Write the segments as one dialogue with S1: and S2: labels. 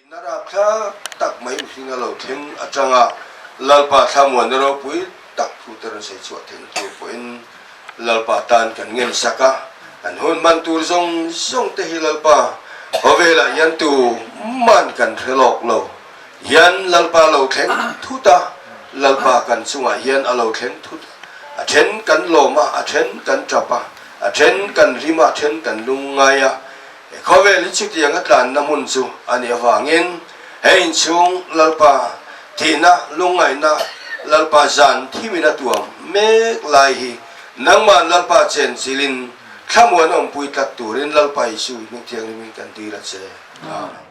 S1: I narap thlak tak mai u hlinga lo thleng atanga Lalpa Thlamuanna ropui tak thu te rawn sawi chhuah theih tur pawhin Lalpa tan kan ngensak a, kan hun man tur zawng zawng te hi Lalpa khawvelah hian tu man kan hrel awk lo hian Lalpa lo thleng thut a, Lalpa kan chungah hian a lo thleng thut a, a then kan lawm a, a then kan tap a, a then kan hlim a, a then kan lungngai a. Khawvel hi chutiang a tlanna hmun chu a nih avangin he inchhung Lalpa thihna, lungngaihna, Lalpa zan thimin a tuam mek lai hi nangma'n Lalpa chen chilhin thlamuan a awmpui tlat turin Lalpa Isuhi hming thianghlimin kan dil a che. Amen.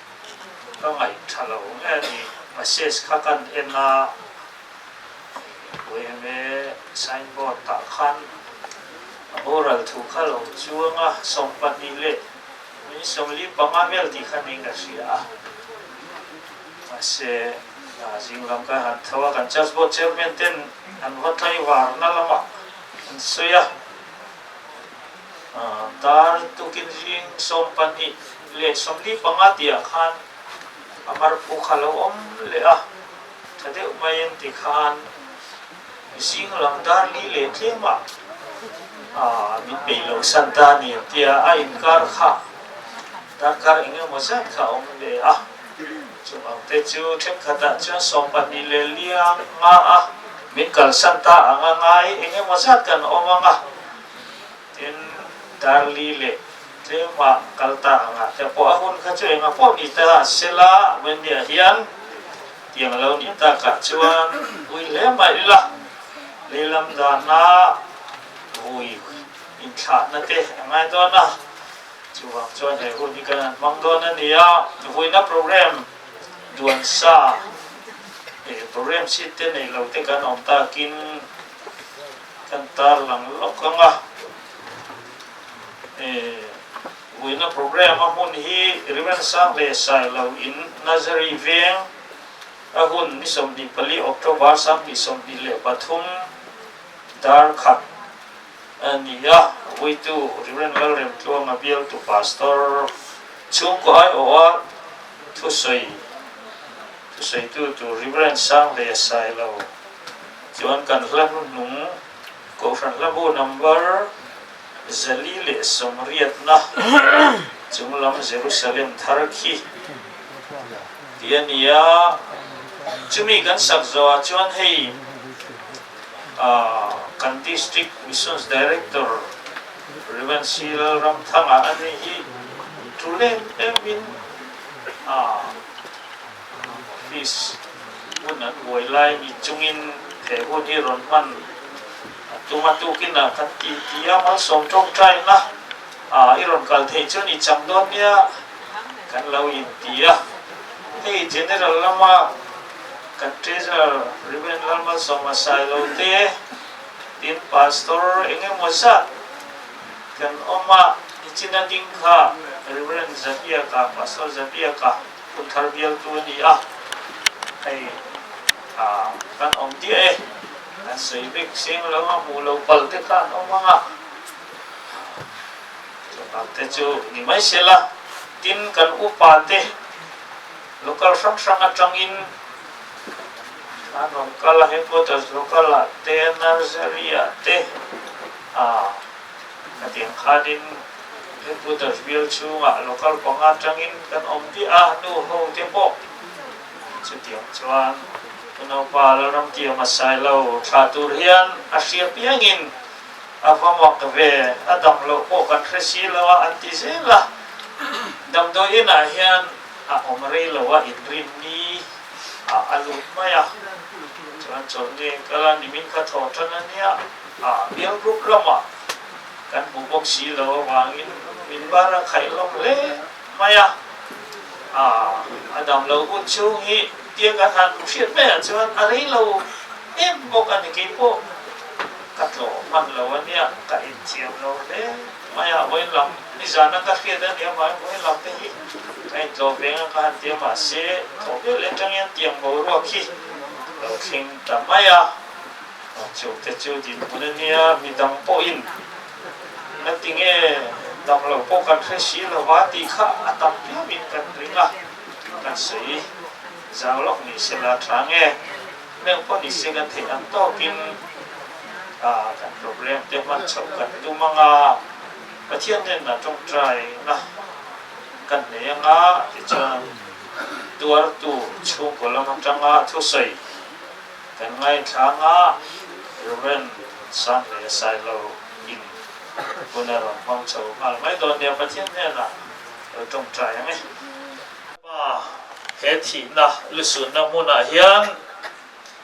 S1: Ka ngaih tha lo nge ni? Message kha kan en a, Puai em e, sign board tah khan a ho ral thu kha lo chuang a, sawm pahnih leh min sawm li panga vel tih kha ning ka hria a. Mahse, aa zing lam ka han tho a, kan Church Board Chairman ten an va tlaivarna lamah an sawi a. Dar tukin hling sawm pahnih leh sawmli panga tihah khan a mar phu kha lo awm leh a, tha deuh mai engti khan zing lam dar li leh tlêmah min beilo san ta ni tia a inkar kha darkar eng emaw zat kha a awm leh a. Chuvang te chu thenkhatah chuan sawm pahnih leh liang nga a min kalsan ta ang a ngai eng emaw zat kan awm ang a. Tin, Darlie leh Tleuhmah kal ta angah te pawh a hun kha chu eng a pawh ni ta a sela, Wendy-a hian tiang a lo nih takah chuan vui hle mai ila, leilam dana vui inthlahna te a ngai dawn a, chuvang chuan he hun hi kan han hmang dawn a ni a, vuina program duansa eh program chhit te neilo te kan awm takin. Kan tarlang lawk anga eh uina program a hun hi Rimensang leh Sailo in Nazari veng a hun ni sawmhnih pali October sanghnih sawmhnih leh pathum darkhat a ni a Vuitu Reverend Lalrem Tluanga bialtu Pastor chhungkaw ai awha thusawi thusawitu tur Reverend Sang leh Sailo Chuan kan hla hnu hnung Kohhran hla bu number zali leh sawmriatna chung lam Jerusalem thar khi tih a ni a, chumi kan sak zawhah chuan hei aah kan district missions director Rev. Sri Lal Ramthanga a ni hi thu lem em in aah. Office hun an buai lai mi chungin he hun hi rawn hman a tuma tukin a kan tih ti a, Mal Sawm Tawngtaina a i rawn kal thei chuan i cham dawn nia kan lo in ti a, hei General lama kan Treasurer Rev. Lalmalsawm Asailo te tin Pastor eng emaw zat kan awm a, i china ding kha Rev. Zabiaka, Pastor Zabiaka. Hun thar bialtu a ni a, hei tha kan awm diah e, kan sawi bik seng lo a, hmuh lo pal te kha an awm ang a, chu bak te chu ni mai se la, tin kan upa te local hrang hrang atangin an rawn kal a, headquarters local ah te, nursery ah te, aa. Hetiang khanin Headquarters bial chhungah local panga tangin kan awm diah a, nu ho te pawh an chutiang chuan ka naupa la ram ti a masai lo, thlah tur hian a hria piangin a va mak ve, a dam loh pawh kan hre si lo a an ti zel a, damdawi inah hian a awm rei lo a inrin ni ah a lut mai a, chuan chawlh nge kal a, nimin ka thaw tan ania. A Miang Group lama kan hmuh bawk si lo avangin min bar a khaih hlawm hle mai a. A a dam lo hun chhung hi tia kan han hmu hriat mai ah chuan a rei lo em bawk a ni. Kei pawh ka tlawh hman lo a nia, ka inthiam lo hle mai a. Vawiin lam nizan a ka hriat a ni avangin vawiin lam te hi ka intlawh ve ngang ka han tia mahse, thawhvel aṭangin tiang boruak hi lo thleng ta mai a. Chuk te chu din hun a nia, mi dang pawhin na ti nge dang lo pawh kan hre si lo va tih kha a tam viau in kan ring a, kan sawi zau lawk ni se la tha nge hmel pawh ni se kan theih ang tawk in ah kan problem te hman chhoh kan tum ang a, Pathian nenah tawngtai na kan nei ang a tichuan tuar tu chhungkaw lam atanga thusawi Kan ngaithlang a, Rev. Sanhle Sailo in hun a rawn hmang chho nghal mai dawn nia Pathian hnena lo tawngtai ang e. Ama he thihna lusunna hmunah hian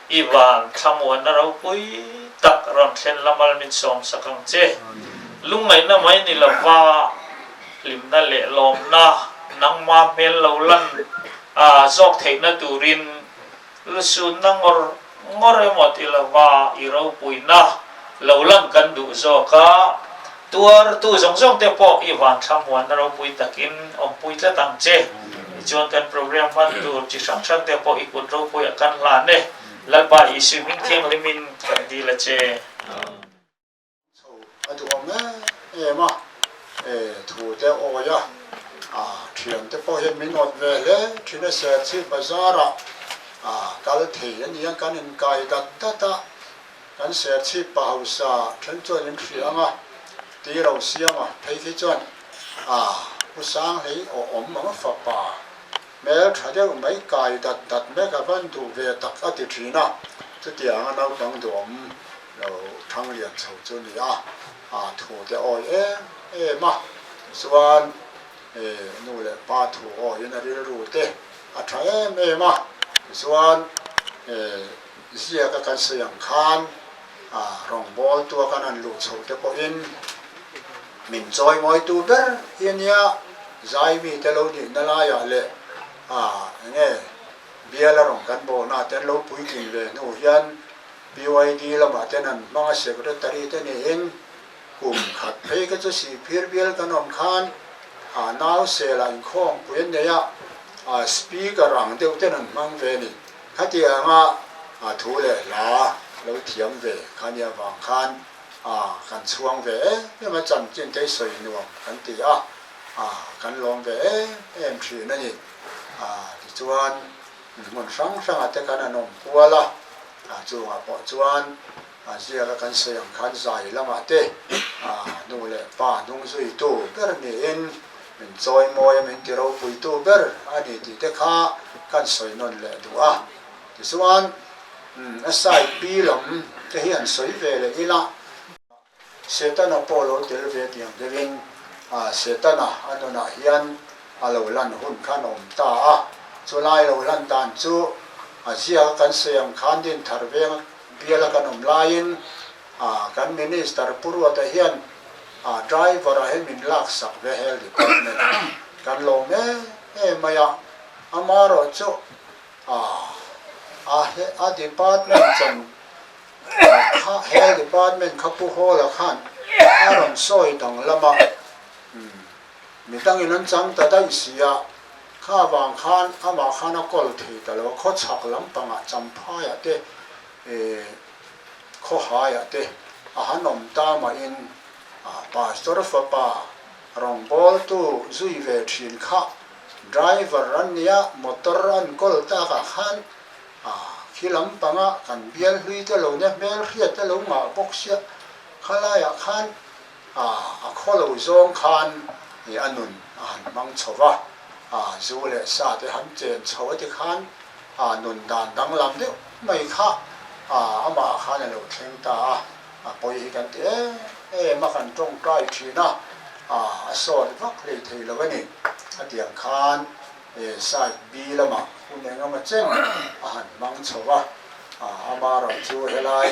S1: i van thlamuanna ropui tak rawn thlen la mal min sawm sak ang che. Lungngaihna mai ni lova hlimna leh lawmna nangma hmel lo lan zawk theihna turin Lusunna ngawr ngawr emaw ti lova i ropuina lo lang kan duh zawk a, tuartu zawng zawng te pawh i vanthla muanna ropui takin awmpui tlat ang che. Tichuan kan program hman tur chi hrang hrang te pawh i kut ropuiah kan hlan e. Lalpa Isui hming thianghlim in kan dil a che. Chho a duh hle em a, e thu te a awi a, a thian te pawh hian min awt ve hle, thin a seh chi bazar ah a kal thei a nia, kan in kai dat dat a, kan seh chi pa hausa then chuan in hria ang a, ti ro siam a, phei khi chuan a pu Sanghlei aw awm ang a fapa, hmel tha deuh mai kai dat dat mek a van duh ve tak a ti thin a, chuti anga naupang duh awm Lo thang lian chho chu ni a, a thu te awi em em a, tichuan he nu leh pa thu awiin a rilru te a tha em em a, tichuan he ziaka kan sawi ang khan a rawngbawl tuak an han luh chho te pawhin min chawi ngawi tu ber hi a nia, zai mite lo nihna laiah leh a eng nge biala rawn kan bawhna te an lo puitling ve hnu hian, BYD lamah ten an hmang a secretary te niin kum khat phei ka chu sihphir bial kan awm khan aa nau sela in khawng pui an nei a, aa speaker ang deuh ten an hmang ve ni khatia anga aa thu leh hla lo thiam ve khani avang khan aa kan chhuang ve em em a chanchinteii sawi nuam kan ti a aa kan lawm ve em em thin a ni aa tichuan. Mihmun hrang hrangah te khan an awm kual a, a chungah pawh chuan a ziaka kan sawi ang khan zai lamah te nu leh pa hnung zuitu ber niin min chawi mawi a, min ti ropuitu ber a ni tih te kha khan sawi nawn leh duh a. Tichuan SIP lam te hi an sawi ve leh ila. Setana pawh lo tel ve piang deuhin Setana a nunah hian a lo lan hun khan a awm ta a, chulai lo lan dan chu a ziaka kan sawi ang khan din thar venga biala kan awm laiin kan Minister Pu Ruata hian Driver a hi min lak sak ve Health Department ah kan lo em em mai a, amaherawhchu a Department chawn Health Department kha pu Hall-a khan a rawn sawi danglam a, umm, mi tangin an chang ta daih si a, kha avang khan amah khan a call thei ta lo, khawchhak lampangah Champhaiah te, eh, khawhaiah te a han awm ta mahin Pastor fapa Rawngbawltu Zuive thin kha driver an nia motor a an call takah khan A khi lam panga kan bial hlui te lo nia, hmel hriat te lo ngah bawk sia, kha laiah khan a a khaw lo zawng khan ih a nun a han hmang chho va, a zu leh sa te han chen chho a ti khan a nun dan danglam deuh mai kha a amah khan a lo thleng ta a, a pawi hi kan ti em em a kan tawngtai thin a, a a sawt vak lei thei lo a ni a tiang khan. he side B lamah hun eng emaw cheng a han hmang chho a, ama ram chu helai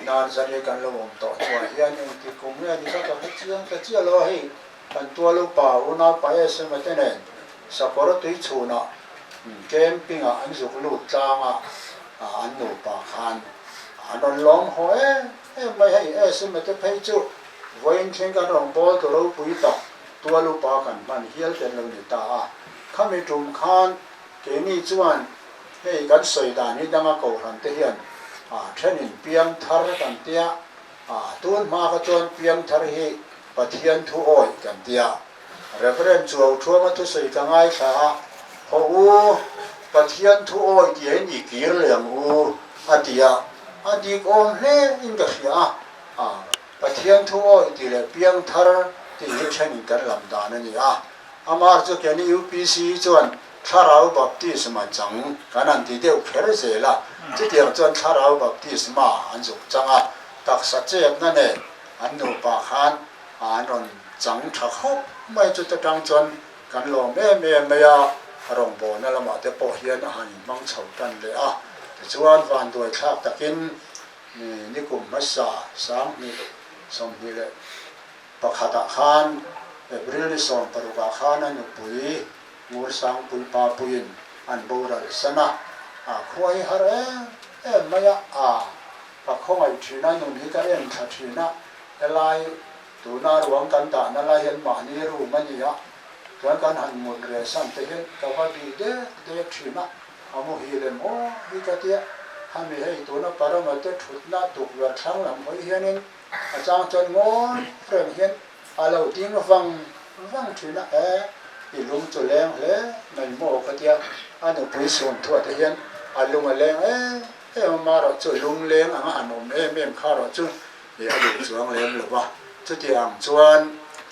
S1: nan zan hi kan lo awm tawh chhuah hian engtik kum nge ni ka ka hre chiang ta chiah lo a, hei kan tual upa u naupa SMA te nen sakawr a tui chhunah camping ah an zuk lut tlang a, an nupa khan an rawn lawm haw em. Em mai hei e sum e te phei chu vawiin thing kan rawn kawl tawh ropui tak tual upa kan hman hial tel lo ni ta a, khami tum khan keini chuan hei kan sawi dan hi danga kohhran te hian a thenin piang thar a kan tia, a tun hma kha chuan piang thar hi Pathian thu awi kan tia. Rev. Chuau Thuama thusawi ka ngaithla a, Haw u, Pathian thu awi tia in i kir leh ang u, a ti a, a dik awm hle in ka hria a, a, Pathian thu awi ti leh piang thar tih hi then in kan lam dan a ni a, amah chu ken i UPC hi chuan Thlarau Baptisma chang kan han ti deuh kher zel a, chutiang chuan Thlarau Baptisma an zuk chang a, taksa chetna nen an nupa khan, a an rawn chang tha khawp mai chu te tang chuan kan lawm em em mai a, a rawngbawlna lamah te pawh hian a han inhmang chho tan leh a, tichuan vanduai thlak takin mi ni kum hmasa sanghnih sawmhnih leh pakhatah khan April ni sawm parukah khan a nupui Ngursang Puipa Puiin an boral san a, a khuai har em em mai a. Ka khawngaih thin a nun hi ka en tha thin a, helai tuna ruang kan dah na lai hian mahni room a ni a, chuan kan han mut reh san te hian ka va bih dek dek thin a, a mu hi lem haw hi ka ti a, hami hei tuna parama te thutna tukverh thlang lam hawi hianin a chang chuan ngawi reng hian a lo ding vang vang thin a, e i lung chu leng hle mai maw ka ti a, a nupui sum thuate hian a lung a leng e Heng ho hma erawh chu lungleng anga an awm em em kha erawh chu a duh chuang lem lo va, chuti ang chuan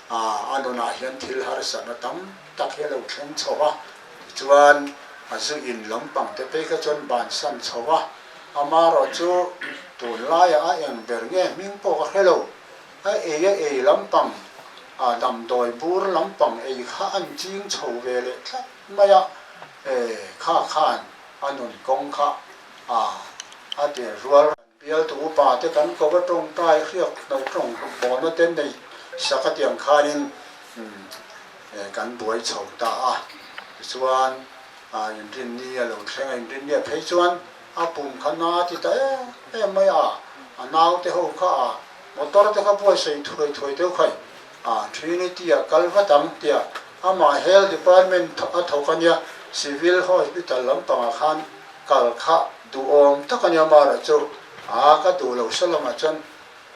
S1: a nunah hian thil harsatna tam tak hi a lo thleng chho va, tichuan a zu in lampang te phei kha chuan ban san chho va, a hma erawh chu tun laia a eng ber nge hming pawh ka hre lo, a ei a ei lampang a damdawi bur lampang ei kha a inching chho ve leh tlat mai a, e kha khan A nun kawng kha ah a tir rual. Bialtu upa te kan kova tawng ta i hriat hnawih tawng bawhna te nei sak atiang khanin kan buai chho ta a. Tichuan inrin ni a lo thleng a, inrin ni a phei chuan a pum kha na a ti ta em em mai a, a naute ho kha ah motor te kha buai sawi thuai thuai deuh khai. A, Trinity a kal vat ang tia amah Health Department a thawk a nia, Civil Hospital lampangah khan kal kha duhawm tak a nia Marah chu aa ka duh lo se lamah chuan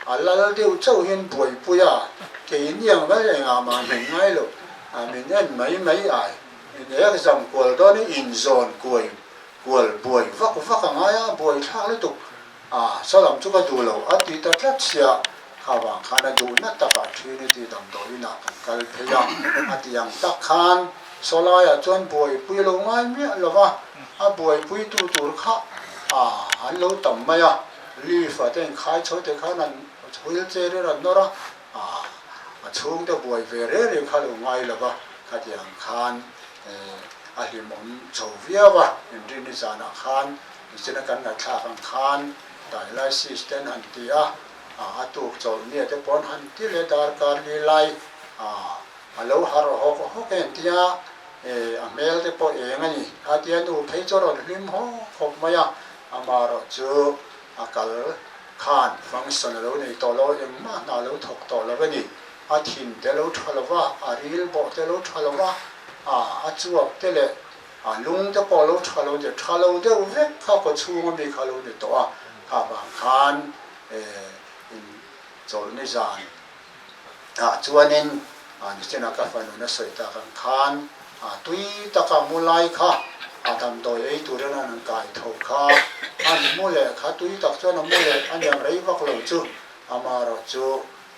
S1: a lal deuh chauhin buaipui a, kei iniang mai engah mah min ngai lo, min en mai mai ai, min exam kual dawn in inzawn kual buai vak vak a ngai a, buai thlak lutuk A sa lam chu ka duh lo a ti ta tlat sia, kha vang khan a duh nat tak a Trinity damdawi in ah kan kal phei a, a ti ang tak khan Salai ah chuan buaipui lo ngai miah lo va, a buaipui tu tur kha a an lo tam mai a, Leaf ah te inkhai chho te khan an wheel chair in an nawr a, a a chhung te buai ve reh reh kha lo ngai lo va, kha ti ang khan eh a hlim awm chho viau a, in rin i zan ah khan. Nihchenna kan ngaithlak ang khan dialysis ten han ti a, a tuk chawlh mia te paw'n han ti leh dar kar leh lai, a lo har hawk hawk en tia a hmel te pawh eng a ni a tia nu phei chu a rawn hlim hawk hawk mai a, amah erawh chu a kal khan function a lo nei tawh lo a, engmah hna a lo thawk tawh lo a ni, a thin te a lo tha lo va, a rilbawh te a lo tha lo va, a chhuak te leh. A lung te pawh a lo tha lo tir tha lo deuh vek kha kaw chhunga mi kha a lo ni tawh a, kha vang khan in chawlh ni zan ah chuanin nihchenah ka fanun a sawi tak ang khan tui taka mu lai kha a damdawi ei turin an rawn kai tho kha a mu leh kha tui tak chuan a mu leh a niam rei vak lo chu ama erawh chu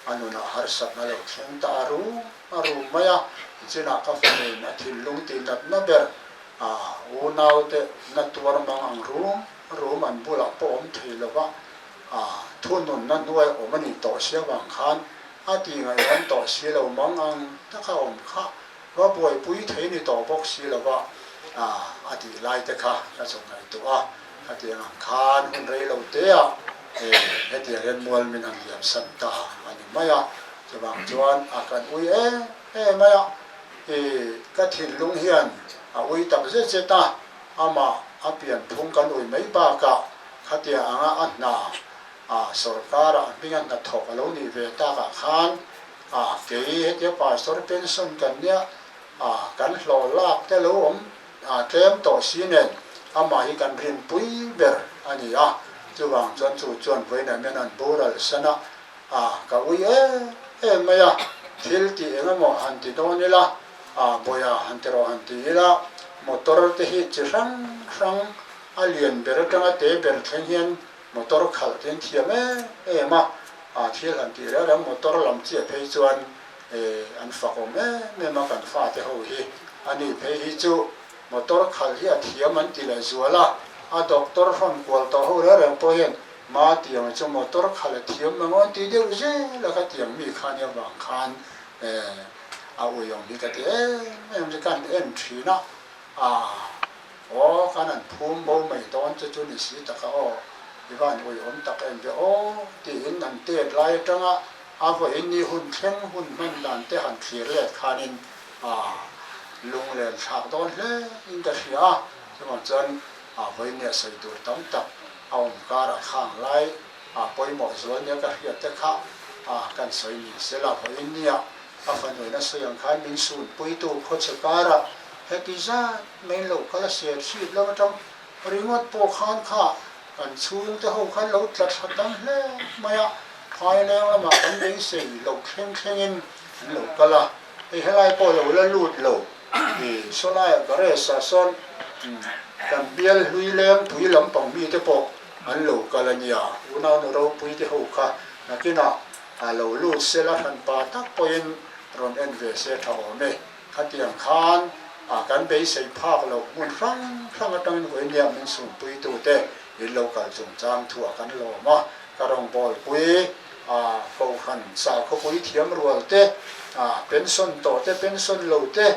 S1: A nunah harsatna a lo thleng ta a rum a rum mai a, chinah ka fami'n a thinlung ti nat na ber a, u naute na tuar mang ang rum rum an bulah pawh awm thei lo va, a thununna hnuaia awm a nih tawh sia vang khan a ti ngaihawm tawh si lo mang ang taka awm kha Va buaipui thei ni tawh bawk si lo va, a tih lai te kha ka chaw ngaihtuah a, hetiang ang khan hun rei lo teah hetiang hian mual min han liam san ta a ni mai a, chuvang chuan a kan ui em em mai a, i ka thinlung hian a ui tak zet zet a, amah a pianphung kan ui mai bakah khatiang anga a hna sorkara a hminga hnathawk a lo nih ve takah khan, Ah kei hetia pastor pension kan nia ah kan hlawh lak te lo awm ah tlem tawh si nen amah hi kan rin pui ber a ni a, chuvang chuan chu chuan vawiinah mian an bural san a ah ka ui em em mai a, thil tih eng emaw han ti dawn ila ah bawia han ti rawh han ti ila motor te hi chi hrang hrang a lian ber atanga te ber thleng hian Motor khalh chu an thiam em em a, a thil han tih reng reng motor lam chiah phei chuan eh an fak awm em em a kan fate ho hi a ni phei hi chu motor khalh hi a thiam an ti leh zual a, a doctor hrawn kual tawh ho reng reng pawh hian ma tiang chu motor khalh a thiam mang an ti deuh zel a ka tiang mi khan hi avang khan eh a uiawm hi ka ti em em chu ka han en thin a ah. Aw, khan an phum bo mai dawn che chu ni si tak a aw, i van ui awm tak em ve aw, tiin an tet lai atanga a vawiin ni hun thleng hun hman dan te han thlir let khanin ah lunglen thlak dawn hle in ka hria a, chuvang chuan ah vawinia sawi tur tam tak a awm kar a khang lai ah pawimawh zual nia ka hriat te kha ah kan sawi ni se la vawinia a fanuaina sawi ang khan min sunpui tu khawchhe kara heti zat Main lo kha la siat hriat lo a tang. Ringawt pawh khan kha kan chhung te ho khan lo tla tha tam hle mai a, Thaileng lamah kan beisei loh thleng thleng in an lo kal a, hei helai pawh lo la lut lo i, Solaia Garage ah sawn kan bial hlui lengpui lampang mi te pawh an lo kal a nia, unaunu ropui te ho kha nakin ah a lo lut se la, hranpa tak pawh in rawn en ve se tha awm e. Khatiang khan a kan beisei phak loh hmun hrang hrang atangin hawi nia min sumpuitute in lo kal chungchang thu a kan lawm a, ka rawngbawlpui, Fohran sa khawpui thiam rual te, pension tawh te, pension lo te,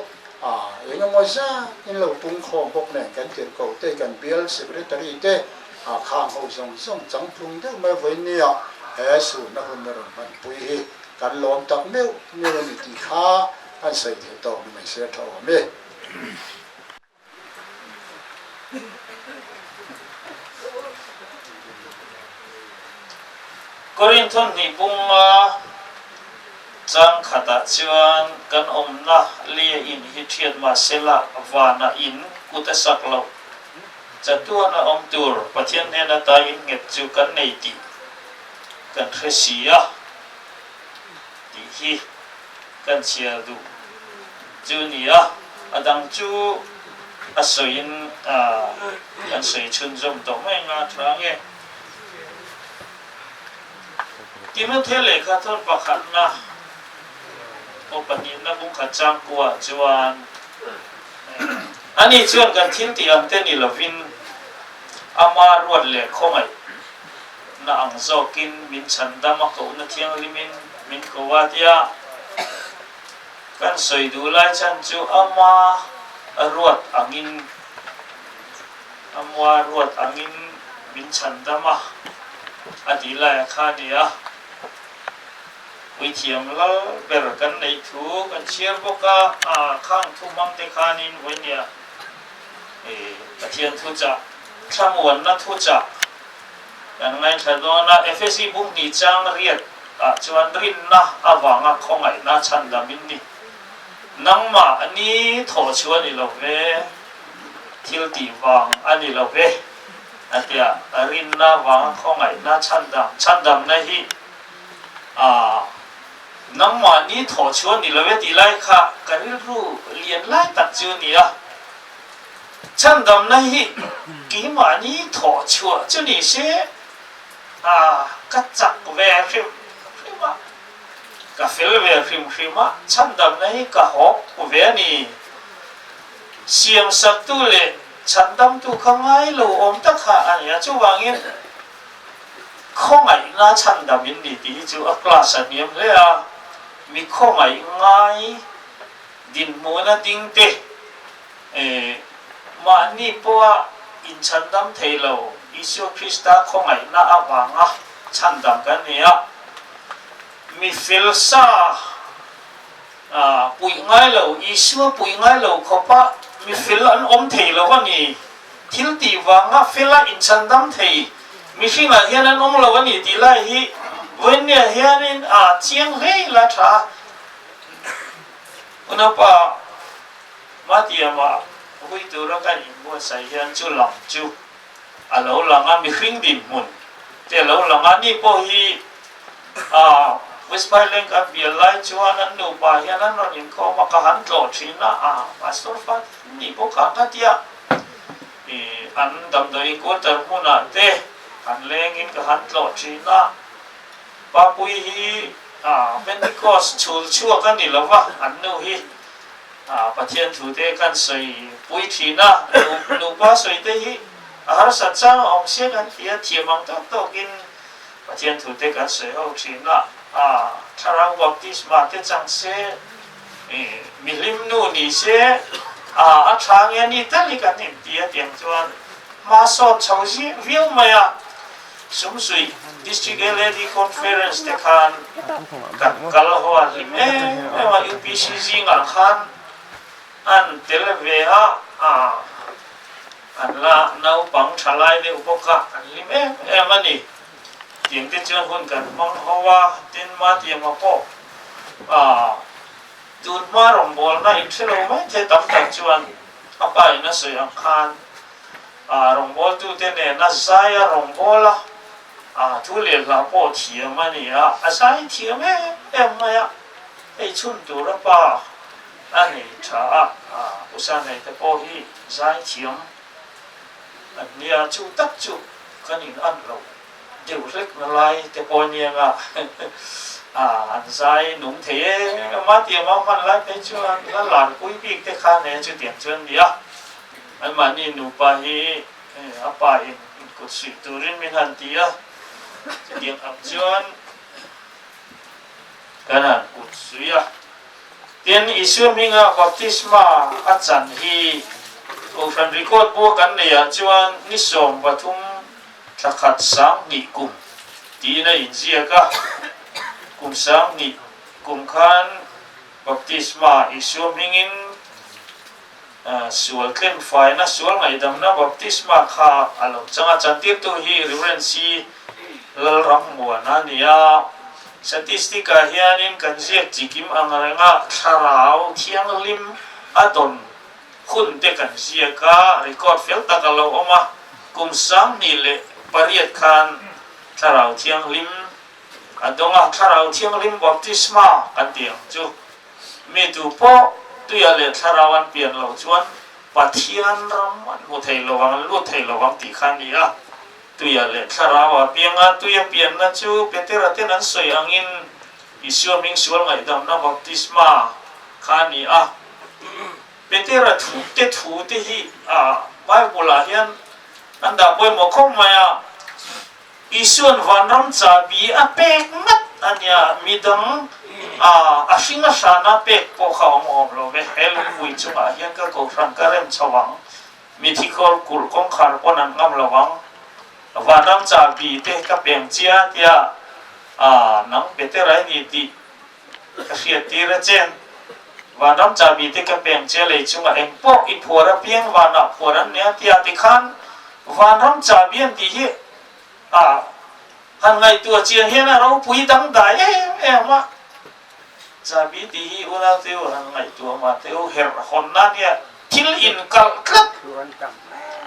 S1: engemaw zat in lo pungkhawm bawk nen kan tirhko te, kan bial secretary te, khang ho zawng zawng chang tlung deuh mai hawi nia he sunna hunna rawn hmanpui hi kan lawm tak meuh meuh a ni tih kha. an sawi tel tawk ni mai se a tha awm e. Korintho hnih bunga chang khatah chuan kan awmna lia in hi thiat mahse lah vana in kut a sak lo. Chatuan a awm tur Pathian hnen ata in nghet chu kan nei tih kan hre si a tih hi kan chhiar duh chu ni a, a dang chu a sawiin kan sawi chhun zawm tawh mai nga tha nge. Timothy lehkha thawn pakhatna aw pahnihna bungkhat changkuah chuan, Ani chuan kan thiltih ang te ni lovin, ama ruat leh khawngaih, na ang zawkin min chhan dam a kohna thianghlimin min ko a tia kan sawi duh lai chhan chu ama ruat angin ama ruat angin min chhan dam a a tih lai ang kha a ni a, puithiam lal ber kan nei thu kan chhiar bawk a, a khang thu hmang te khanin vawinia Pathian thuchah, thlamuanna thuchah. Kan ngaithla dawn a, Efesi bumhni chang riat ah chuan rinna avanga khawngaihna chhan dam in ni. Nangmah a ni thawh chu a ni lo ve, thiltih vang a ni lo ve a ti a, rinna avanga khawngaihna chhan dam, chhan damna hi ah nangmah ni thawh chu a ni lo ve tih lai kha ka rilru lian lai tak chu a ni a. Chhan damna hi keimahni thawh chhuah chu ni se, a ka chak ve hrim hrim a, ka fel ve hrim hrim a, chhan damna hi ka hawk ve a ni. Siamsaktu leh chhan damtu kha ngai lo awm tak kha a ni a, chuvangin khawngaihna chhan dam in ni tih hi chu a class a hniam hle a, mi khawngaih ngai dinhmuhna ding te, Ee, mahni pawha inchhandam thei lo Isua Krista khawngaihna avanga chhandam kan ni a, mi fel sa puih ngai lo, Isua puih ngai lo khawpa mi fel an awm thei lo a ni, thil tih vanga fela inchhandam thei mihringah hian an awm lo a ni tih lai hi Vawinia hianin a chiang hle ila tha. Unapa. Matiamah Puhui tura kan inbuatsaih hian chu lang chu a lo lang a, mihring dinhmun te a lo lang a, ni pawh hi aah West Pailenk an bial lai chuan an nupa hian an rawn inkhawm a, ka han tlawh thin a, aah Pastor fat an nih bawk ang kha tia ih an damdawi inkualter hmunah te han lengin ka han tlawh thin a, Papui hi aah Pentecost chhul chhuak a ni lo va, an nu hi. Pathian thute kan sawi puithin a, nupa sawite hi a harsat chang a awm sia kan ti a, thiam ang tawk tawkin Pathian thute kan sawi ho thin a, Thlarau baptisma te chang se, mi hlimnu ni se, a thla nge ni tal hi kan inti a tiang chuan hmasawn chho viau mai a. Sum suih District LAD Conference te khan kan kal hual hlim em em a, UPC zingah khan an tel ve a, an la naupang thalai deuh bawka an hlim em em a ni. Tiang te chuan hun kan hmang ho a, tin mahtiang ah pawh tun hma rawngbawlna in hrelo maithei tam tak chuan a paihna sawi ang khan, A rawngbawltute nen a zai a rawn bawl a, a thu leh nghah pawh thiam a ni a, a zai thiam em em mai a, hei chhun tura pa a nei tha a, usa nei te pawh hi zai thiam an ni a, chu tak chu kan in an lo deuh hlek na lai te pawh a nia nga, a an zai nung thei em em a, tiang a hman lai phei chuan la lar pui bik te khan e chutiang chuan a ni a. An mahni nupa hi a pa in inkut suih turin min han ti a, chutiang ang chuan kan han kut suih a. Tin, Isua hminga baptisma a chan hi Kohhran Record bua kan neiah chuan ni sawm pathum thla khat sang hnih kum tiin a inziak a. Kum sang hnih kum khan baptisma Isua hmingin Sual tlem faina, sual ngaihdamna, baptisma kha a lawm chang a. Chantirtu hi Reverend C. Lalrammuana a ni a. Statistic ah hianin kan ziak chikim angrengah thlarau thianghlim a dawn hun te kan ziak a, record fel tak a lo awm a. Kum sanghnih leh pariat khan thlarau thianghlim a dawng a, thlarau thianghlim baptisma kan tih ang chu. Mi tu pawh tuia leh thlarau an pian lo chuan Pathian ram an hmu thei lo vang, an lut thei lo vang tih kha a ni a. Tuia leh thlarau apianga tuia pianna chu Petera ten an sawi angin Isua hming sual ngaihdamna, Baptisma, kha a ni a. Petera thu te thu te hi Bible-ah hian an dah pawimawh khawp mai a. Isuan vanram chahbi a pek nghat a nia, midang a a hringa hrana pek pawh kha awm awm lo ve. He lungpui chungah hian ka kohhran ka rem chho ang, mithi kawl kulh kawngkhar pawn an ngam lo ang. Vanram chahbi te ka peng chia tia a nang beter ai ni tih Ka hriat tir a chen. Vanram chahbi te ka peng che lei chunga eng pawh i phuar a piang vanah phuar an nia tia ti khan Vanram chahbi an tih hi a han ngaihtu a chian hian a ropui dangdai em em a. Chahbi tih hi u Nauteu han ngaihtu a Mahteu herh hawn na nia thil inkalh tlat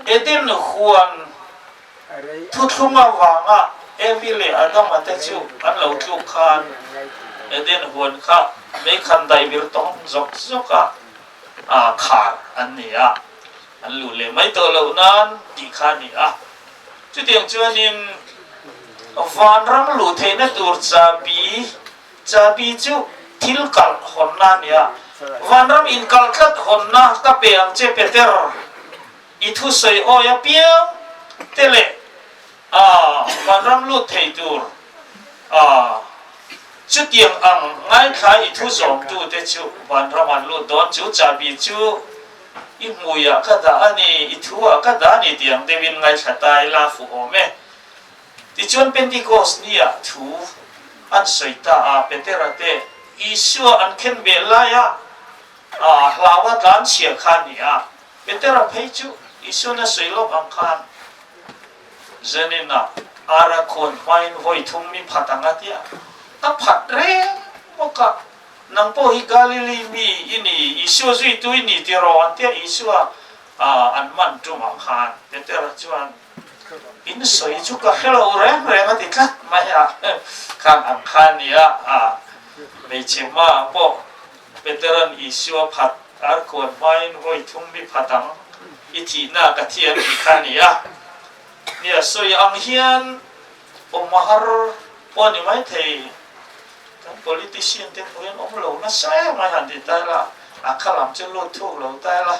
S1: Eden Huan. Thuthlunga vanga Abby leh Adama te chu an lo tluk khan Eden huan kha meikhan daihbir tawng zawk zawka khar an ni a, an luh leh mai tawh loh nan tih kha a ni a. Chutiang chuanin vanram luh theihna tur chabi, chabi chu thil kalh hawnna a ni a, vanram inkalh tlat hawnna ka pe ang che Peter. I thusawi hawi apiang te leh kan ram lut thei tur chutiang ang ngaithlai i thu zawmtu te chu van ram an lut dawn chu chahbi chu i hmui ah ka dah a ni, i thu ah ka dah a ni tiang deuh in ngaithla ta i la fuh awm e. Tichuan Pentecost ni ah thu an sawi ta a, Petera te Isua an khenbel lai ah hlauva tlan chhia kha ni ah, Petera phei chu Isuna sawi lawk ang khan Janina ara khuan hmain vawi thum mi phat ang atia, ka phat reng bawk a, nang pawh hi Galili mi i ni, Isua zuitu i ni tiraw antia Isua an man tum ang khan Petera chuan. In sawi chu ka hre lo reng reng a ti tlat mai a, khang ang kha nia a, hmeichhe hma ah pawh Peteran Isua phat arkuan hmain hawi thum mi phat ang i thihna ka thi an ti kha nia, nia sawi ang hian aw hma har pawh a ni mai thei, kan politician te hnu hian awm lo nasa e mai han ti ta ila, a khalam chu lut thuk lo ta ila.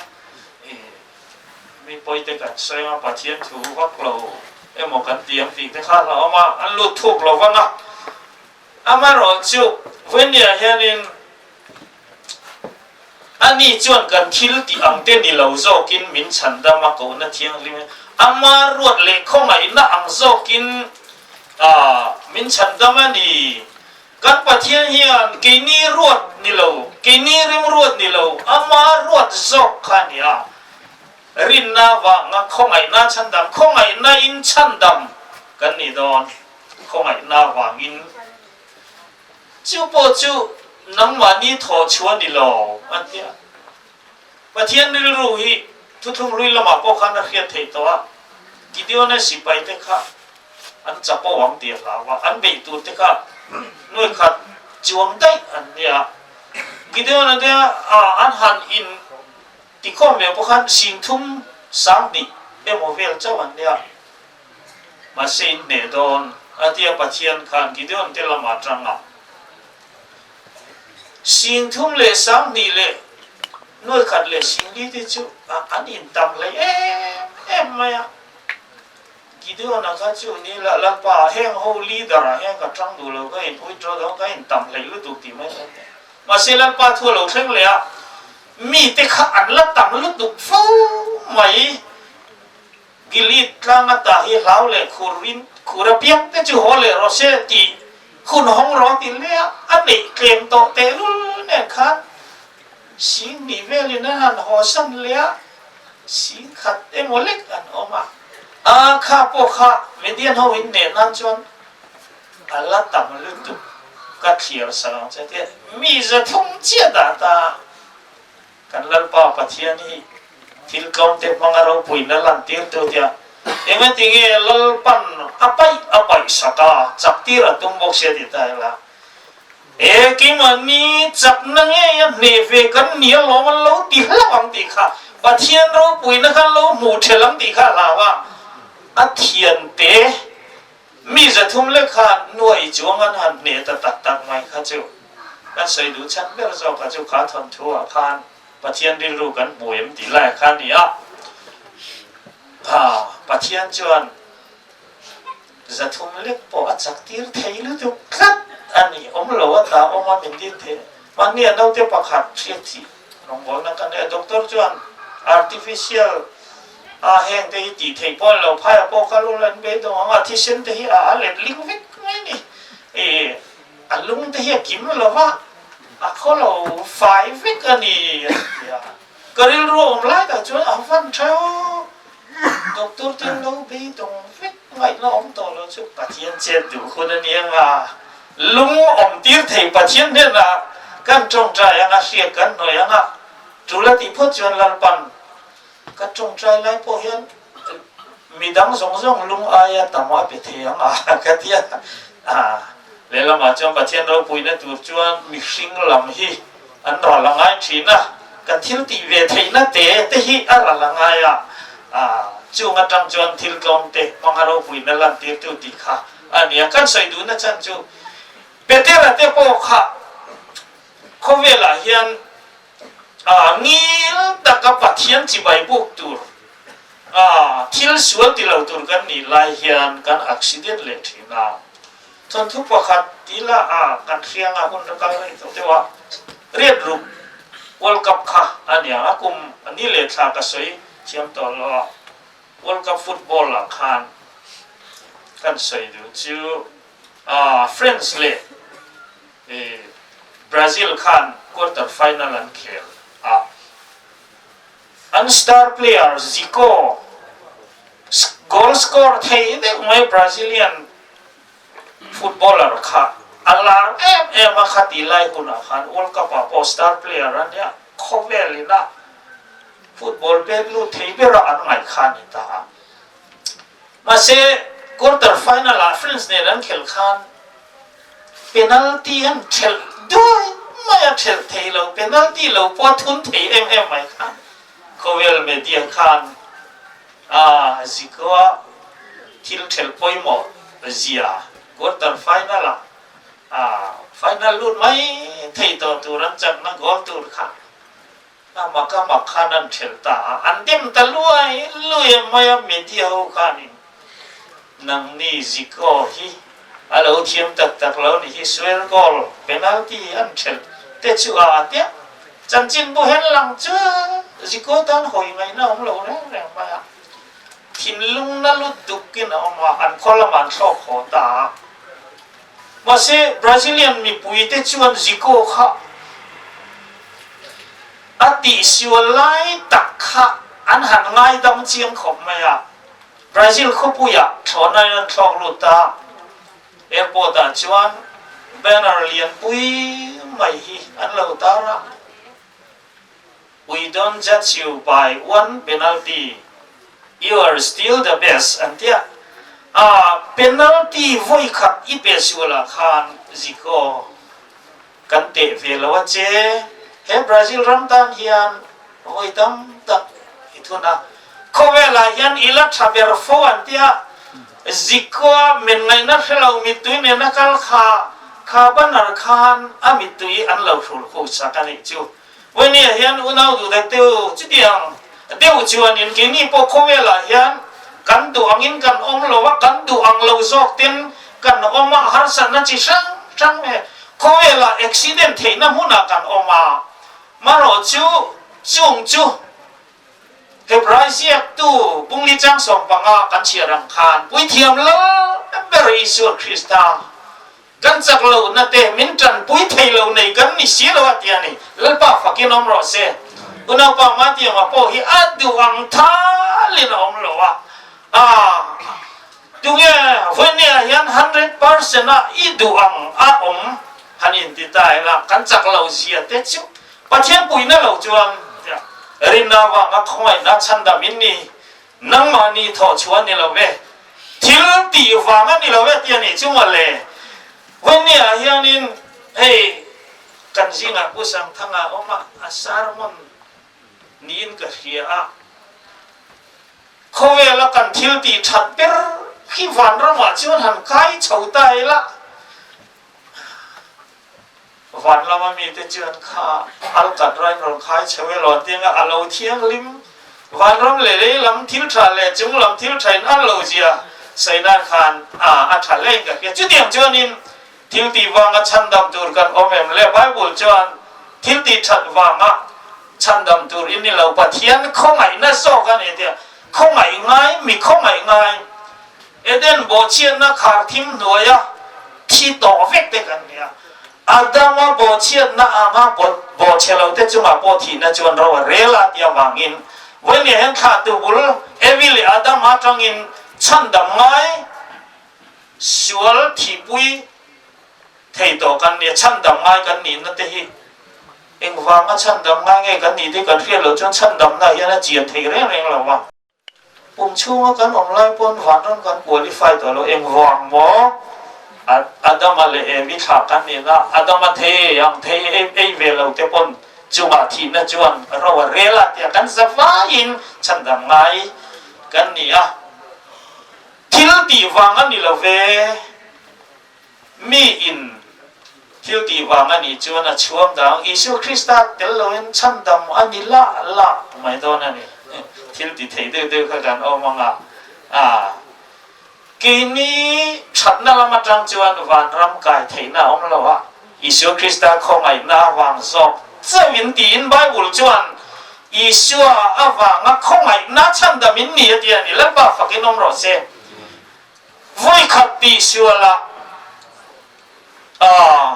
S1: Mipawite kan sawi a, Pathian thu vak lo emaw kan ti ang tih te kha alo awm a, an lut thuk lo vang a. Amaherawh chu, Vawiniah hianin ani chuan kan thil tih ang te ni lo zawkin min chhan dam a, Kohna Thianghlim hi ama ruat leh khawngaihna ang zawkin min chhan dam a ni. Kan Pathian hian keini ruat ni lo, keini rimruat ni lo, ama ruat zawk kha a ni a. Rinna vanga khawngaihna chhandam, khawngaihnain chhandam kan nih dawn, khawngaihna vangin chu pawh chu nangmahni thawhchhuah ni lo a ti a. Pathian rilru hi thuthlung hlui lamah pawh khan a hriat theih tawh a, Gideona sipaite kha an chapo ang tia hlau a, an beih tur te kha nuai khat chiuang daih an nia. Gideona nia an han in ti khawm leh bawk khan singthum sang hnih emaw vel chauh an nia. Mahse in hneh dawn a tia Pathian khan Gideon te lam atanga singthum leh sang hnih leh nuai khat leh singli te chu an in tam hlei em em mai a. Gideona kha chu ni lah lalpa heng ho leader ah hian ka tang duh lo ka in uitro dawn ka in tam hlei lutuk tih mai ka hmu a, mahse lalpa thu a lo thleng leh a, mite kha an la tam lutuk fo mai, Gilead tlang atah hi hlau leh khur in khur apiang te chu haw leh rawh se tih hun hawng rawh a ti hle a, a neih tlem tawh tehlul nen khan sing nih velin an han haw san leh a, Sin khat emaw lek an awm a. A kha pawh kha Median ho in neh nan chuan a la tam lutuk ka thlir sa lo che tih mi ze thung chiah dah ta kan Lalpa Pathian hi thil tlawnte hmanga ropuiin a lantir teuh tia engatinge Lalpan a paih a paih sata chaktir a tum bawk sia tih ta ila He keimahni chakna ngei a hne ve kan ni alawm an lo ti hlauh ang tih kha Pathian ropuina kha an lo hmuh ṭhelh ang tih kha a hlau a. A thiante mi zathum lekha nuaih i chuang an han hne ta tak tak mai kha chu kan sawi duh chhan ber zawkah chu kha thawnthuah khan Pathian rilru kan hmu em tih laia kha a ni a. Pathian chuan. Za thum lek pawh a chak tir thei lutuk tlat a ni. Awm lo a tla awm a min din thei e. Mahnia naute pakhat hriatchhih rawngbawlna ka neih a, doctor chuan artificial a heng te hi tih theih pawh an lo phai a, pawh kal ula in bei dawn ang a, thisen te hi a let ling vek mai a ni. A lung te hi a kim lova, a khaw lo fai vek a ni, a ti a. Ka rilru a awm lai tak chuan a van theu. Doctor te lo beidawng vek ngaihna awm tawh lo chu Pathian chet duh hun a ni anga, lung awm tir thei Pathian hnenah kan tawngtai anga hriat kan hnawih anga, tul a tih phawt chuan Lalpan ka tawngtai lai pawh hian Mi dang zawng zawng lung aia tam a pe thei ang a ka ti a. Lehlamah chuan Pathian ropuina tur chuan mihring lam hi an ral a ngai thin a, kan thil tih ve theihna te te hi a ral a ngai a, chung atang chuan thil tlawm te hmanga ropuina lantirtu tih kha a nia. Kan sawi duh nachan chu Betela te pawh kha khawvelah hian, a ngil taka Pathian chibai buk tur, a thil sual ti lo tur kan nih lai hian kan accident leh thin a, thawnthu pakhat tih la a kan hrianga hun ra kal rei tawh deuh a, riat ruk World Cup kha a niang a, kum a ni leh thla ka sawi thiam tawh lo a, World Cup football ah khan kan sawi duh chu a friends leh I Brazil khan quarter final an khel a, an star player Zico goal score thei deuh mai Brazilian footballer kha a lar em em a, kha tih lai hunah khan world cup ah pawh star player a nia khawvel ina football pek lut thei bera an ngaihkhan a ni ta a. Mahse, quarter final ah France nen an khel khan penalty an ṭhelh duai mai a, ṭhelh thei lo penalty lo pawh a thun thei em em mai khan khawvel media khan a zi ko a, thil ṭhelh pawimawh zia quarter final ah final lut mai thei tawh tur an chakna goal tur kha. A mak a mak khan an ṭhelh ta a, an dem ta luai luai mai a media ho khan in nangni zik aw hi a lo thiam tak tak lo ni hi sual goal penalty an ṭhelh te chu a a piah chanchin buhel lang chuan ziko tan hawi mai na awm lo reng reng mai a thinlung na lut duk in a awm a an khaw lamah an thlawk haw ta a. Mahse, Brazilian mipuite chuan Zico kha a tihsiua lai tak kha an han ngaidam chiang khawp mai a, Brazil khawpuiah thlawhna in an thlawk lut ta a. Airport ah chuan banner lianpui mai hi an lo tar a. We don't judge you by one penalty, you are still the best an tia a penalty vawi khat i pe sual ah khan zik aw kan teh ve lo a che he Brazil ram tan hian vawi tam tak i thun a khawvel ah hian i la tha ber fo an tia zik aw a men ngaih na hre lo mittui nen a kal kha kha banner khan a mittui an lo hrul khu chak a nih chu. Puinia hian unau duh dat deuh chuti ang deuh chuanin keini pawh khawvelah hian kan duh angin kan awm lo a, kan duh ang lo zawk ten kan awm a, harsatna chi hrang hrang nge khawvelah accident theihna hmunah kan awm a, marawh chu chung chu February ziaktu Pungli Changsawm panga kan chhiar ang khan puithiam lalh ber Isua Krista Kan chak lo na te min tan pui thei lo nei kan ni si lo a ti a ni. Lalpa fakin awm rawh se. U Naupa Matianga pawh hi a duh ang thal in a awm lo a. Aah tunge Vawinia hian hundred percent a i duh ang a awm han in ti ta ila kan chak lo zia te chu Pathian puina lo chuan tia rinna vanga khawngaihna chhandam in ni Nangmah ni thawh chhuah ni lo e, thil tih vanga ni lo e tih a nih chu maw le? Hmeinia hianin hei kan zingah Pu Sangthanga awma a sermon niin ka hria a, khawvela kan thil tih that ber khi vanramah chuan han kai chho ta ila. Van lama mite chuan kha al kat raih rawn khai chho e lo tianga a lo thianghlim. Van ram leh lei lam thil tha leh chung lam thil tha in al lo zia Sainan khan ah a tha hleng ka hria. Chutiang chuanin thil tih vanga chhan dam tur kan awm em le? Bible chuan thil tih that vanga chhan dam tur i ni lo. Pathian khawngaihna zawk a ni tia, khawngaih ngai, mi khawngaih ngai Eden bawhchhiatna khar thim hnuaia thi tawh vek te kan nia. Adama bawhchhiatna anga bawhchhelote chungah pawh thihna chuan ro a rel a tia vangin Vawinia hian thlah tu bul Evi leh Adam atangin chhandam ngai sual thihpui thei tawh kan nia. Chhandam ngai kan nihna te hi engvanga chhandam ngai nge kan nih te kan hriat loh chuan chhandamna hian a chian theih reng reng lo a. Kum chhunga kan awm lai pawn vanram kan qualify ta lo engvang maw? Adama leh Evi thla kan nen a, Adama thei ei ang, thei ei ve lo te pawn chungah thihna chuan ro a rel a tia kan za vaiin chhandam ngai kan ni a. Thil tih vang a ni lo ve. Mi in thil tih vang a nih chuan a chhuam dang Isua Krista tel loin chhan dam a ni la la mai dawn a ni. Thil ti thei deuh deuh kha kan awm ang a. Aah. Keini thatna lam atang chuan vanram kai theihna a awm lo a, Isua Krista khawngaihna avang zawk zeuh in tiin Bible chuan Isua avanga khawngaihna chhan dam in ni a tia a ni. Lalpa fakin awm rawh se. vui khat pi sual a aah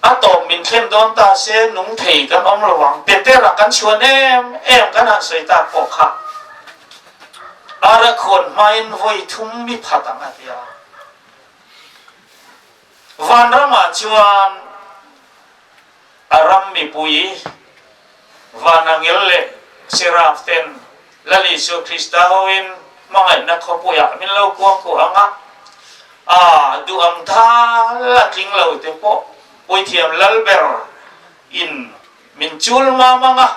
S1: a tawp min thlem dawn ta se nung thei kan awm lo ang pe per a kan chuan em em kan han sawi tak pawh kha Arakhuan hmain vawi thum mi phat ang a nia. Vanramah chuan a ram mipui vana ngel leh seraph ten Lal Isua Krista hoin hmangaihna khawpuiah min lo kuang khawh ang a, aa duh ang thal a tling lo te pawh puithiam lal ber in min chul mang mang a.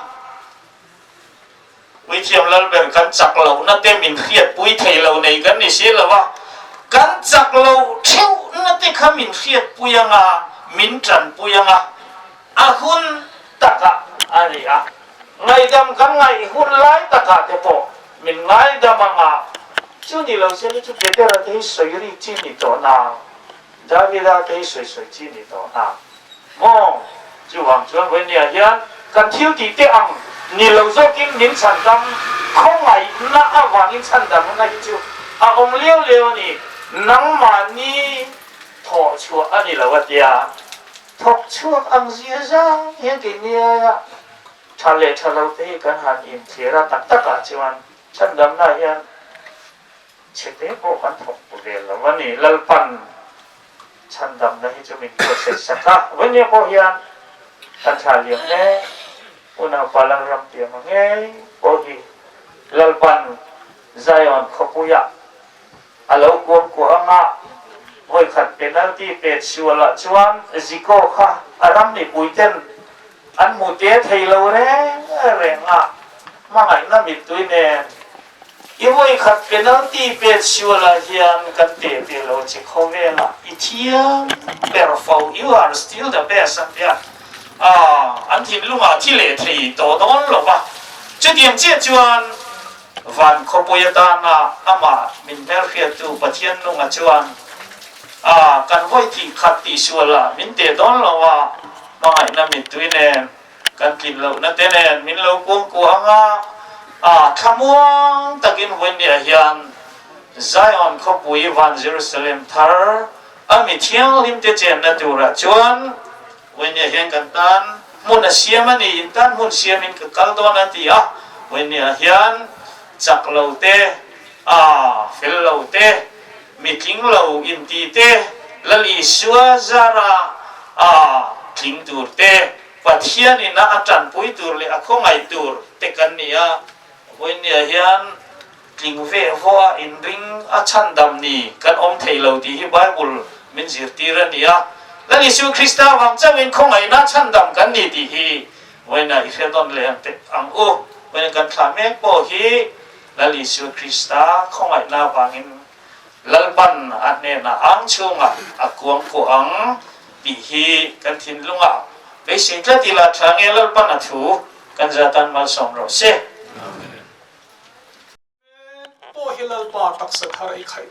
S1: Puithiam lal ber kan chak lohna te min hriatpui thei lo nei kan ni si lo a, kan chak lo theuhna te kha min hriatpui anga, min tanpui anga a hun takah a ni a, ngaidam kan ngaih hun lai takah te pawh min ngaidam anga, chu ni lo se ni chu Keterate hi sawi ri chin ni tawh na Davida kei sawi sawi chi ni tawh hna maw? Chuvang chuan Ruenia hian kan thil tih te ang ni lo zawkin min chhan dam khawngaihna avangin chhan dam hna hi chu a awm lio lio a ni. Nangmahni thawh chhuah a ni lo a tia thawk chhuak ang zia zang hian kei niaia tha leh tha lote hi kan han inthlir a. Tak takah chuan chhan damna hian. Chhe te pawh kan thawk bu vel lo a ni. Lalpan chhan damna hi chu min process sak a. Vawimia pawh hian kan thlah liam e. Unaupa Lalrampiama ngei pawh hi Lalpan Zion khawpuia a lo kuam kuah ang a. Vawikhat penalty pet sual ah chuan Zico kha a ram mipui ten an hmu te thei lo reng reng a. Hmangaihna mittui nen I vawi khat penalty pet siualah hian kan te teh lo che kho vel a, i thiam ber fo, you are still the best an ti a, aah an thinlungah thi leh thei tawh dawn lo va. Chutiang chiah chuan van khawpui atana amah min hmel hriattu Pathiannunga chuan, aah kan vawi thih khat tih sualah min te dawn lo a, hmangaihna mittuin em? Kan tlin loh na te nen min lo pawm kuh ang a, a thlamuang takin Wendy-a hian Zion khawpui van Jerusalem thar a mi thianghlim te chenna turah chuan Wendy-a hian kan tan hmun a siam a ni, in tan hmun siamin ka kal dawn a ti a, Wendy-a hian chak lo te, a fel lo te Mi tling lo in ti te, Lal Isua, Zara a tling tur te, Pathian in a tanpui tur leh a khawngaih tur te kan ni a, vawiin nia hian tling ve vawha inring a chhandam ni kan awm thei lo tih hi Bible min zirtir a nia. Lal Isua Krista vang chauh in khawngaihna chhandam kan ni tih hi vawiin a i hriatdawn leh ang tep ang u. Vawiin kan thlah mek pawh hi Lal Isua Krista khawngaihna avangin Lalban a hnena ang chhunga a kuang pawh ang tih hi kan thinlunga beisei tlat ila thla nge Lalban a thu kan zia tan malsawm rawh se. Amen. Pawh hi Lalpa taksa thar ei khaih.